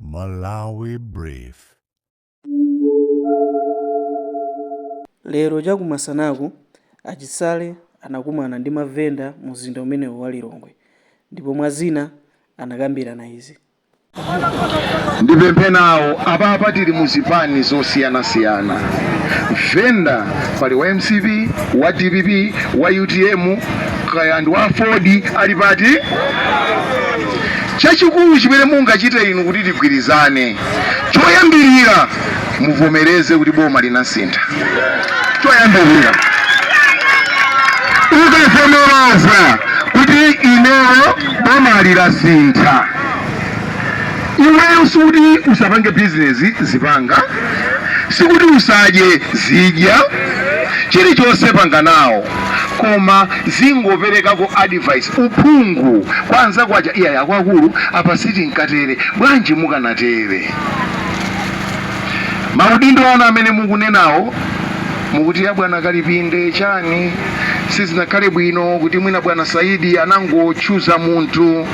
Malawi Brief. Lero chakumasanaku, a Chisale anakumana ndi mavenda mumzinda umenewu wa Lilongwe ndipo mwa zina anakambirana izi. Ndipemphe nawo apapa tili mu zipani zosiyanasiyana venda pali wa mcp wa dpp wa utm kaya ndi wa aford ali pati? Chachikulu chimene mungachite inu kuti tigwirizane, choyambirira muvomereze kuti boma linasintha. Choyambirira ukavomereza kuti ineyo boma linasintha, iweyo sikuti usapange bizinesi, zipanga, sikuti usadye, zidya, chilichonse panga nawo. koma zingoperekako advice uphungu kwa anzako aja iyayi akuluakulu apa simukanatere bwanji mukanatere maudindo anu amene mukunenawo mukuti ya bwana kalipinde chani sizinakhale bwino kuti mwina bwana saidi anangochuza munthu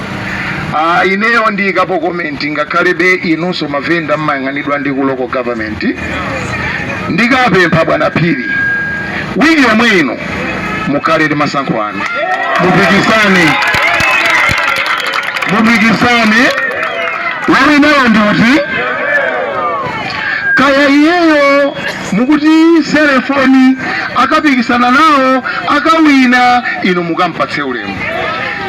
Ah, ineyo ndiyikapo komenti ngakhalebe inunso mavenda mmayang'anidwa ndi ku local government ndikapempha bwana phiri wiki yomwe ino mukhale ndi masankho anu mupikisane mupikisane wawinawo ndi uti kaya iyeyo Mukuti selefoni akapikisana nawo akawina inu mukampatse ulemu,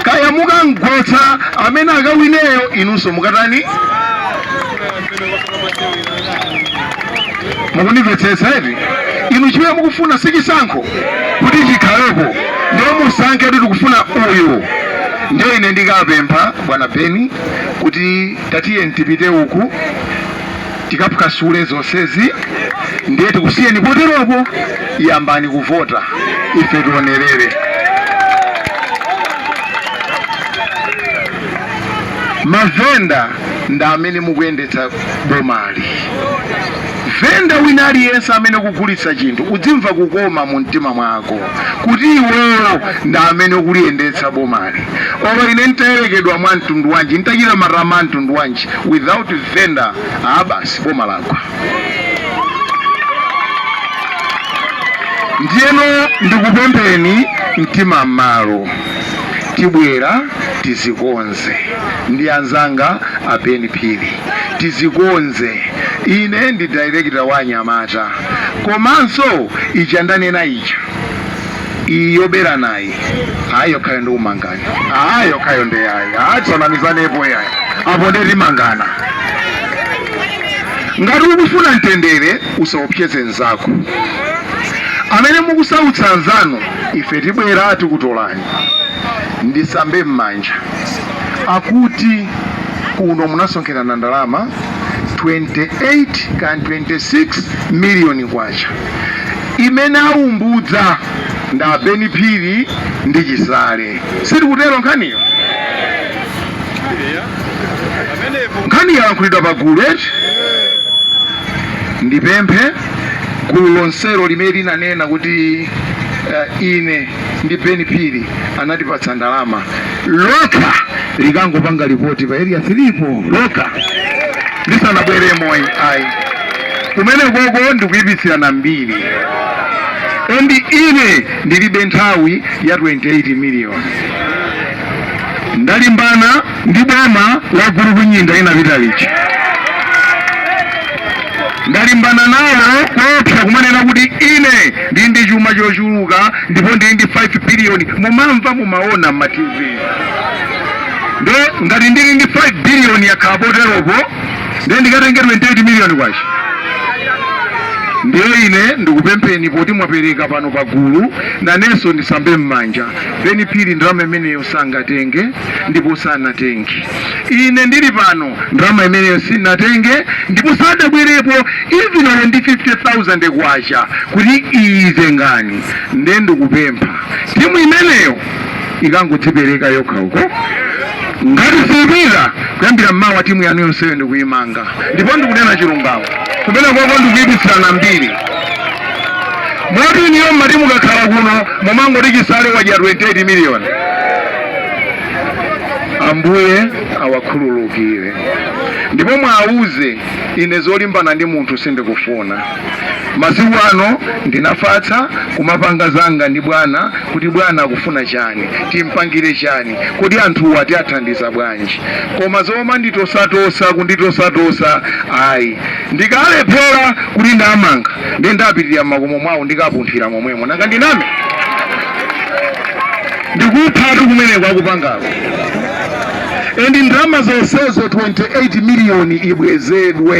kaya mukamgwetsa amene akawineyo inunso mukatani? Mukundimvetsetsa eti? Inu chimene mukufuna si chisankho kuti chikhalepo, ndiye musankhe kuti tikufuna uyu. Ndiye ine ndikapempha bwana Beni kuti tatiye tipite uku tikaphwasule zonsezi ndiye tikusiyeni poteropo yambani kuvota ife tionerere mavenda ndi amene mukuyendetsa bomali venda wina aliyense amene kugulitsa chinthu udzimva kukoma mu mtima mwako kuti iweyo ndi amene ukuliyendetsa bomali olo ine ntayerekedwa mwa mtundu wanji ntachita matama a mtundu wanji without Venda ah, basi boma lagwa. Ndiyeno ndikupempheni mtima m'malo, tibwera tizikonze ndi anzanga a Ben Phiri, tizikonze. Ine ndi director wa anyamata, komanso ija ndanena ija iyi yoberanayi hayi yokhayo ndikumangana hayi yokhayo ndi yayi hayi tisanamizanepo yayi apo ndiye timangana ngati ukufuna mtendere usaopseze mnzako amene mukusautsa anzanu ife tibwera tikutolani ndisambe m'manja akuti kuno munasonkherana ndalama 28 kan 26 miliyoni kwacha imene aumbudza ndi a Beni Phiri ndi Chisale. Sitikutero nkhaniyo? Nkhani yalankhulidwa pa gulu eti? Ndipemphe gulu lonselo limene linanena kuti uh, ine ndi Beni Phiri anatipatsa ndalama lokha likangopanga lipoti pa area 3 po lokha lisanabweremo ayi kumenekoko ndikuipitsirana mbiri and ine ndilibe nthawi ya 28 million ndalimbana ndi boma la gulu kunyinda linapita lija ndalimbana nawo koopsa kumanena kuti ine ndili ndi chuma chochuluka ndipo ndili ndi 5 billion mumamva mumaona mma tv ndiye ngati ndili ndi 5 billion yakhala poteropo ndiye ndikatenge 28 miliyoni kwacha ndiye ine ndikupempheni poti mwapereka pano pagulu nanenso ndisambe m'manja beni phiri ndalama imeneyo sangatenge ndipo sanatenge ine ndili pano ndalama imeneyo sinatenge ndipo sadabwerepo even olo ndi 50000 kwacha kuti iyi tengani ndiye ndikupempha timu imeneyo ikangodzipereka yokha uko ngati siipita kuyambira mmawa timu yanu yonseyo ndikuyimanga ndipo ndikunena chilungamo kumenekoko ndikuyipitsirana mbiri moti inuyo mmati mukakhala kuno mumangoti chisale wadya 28 miliyoni ambuye awakhululukire ndipo muwauze ine zolimbana ndi munthu sindikufuna Masiku ano ndinafatsa kumapanga zanga ndi bwana kuti bwana akufuna chani, timpangire chani, kodi anthuwa tiathandiza bwanji. Koma zomanditosatosa kunditosatosa ayi, ndikalephera kuti ndamanga ndiye ndapitirira mmakomo mwawo ndikapunthira momwemo nanga ndiname ndikuphatu kumene akupangako endi ndalama zonsezo 28 miliyoni ibwezedwe.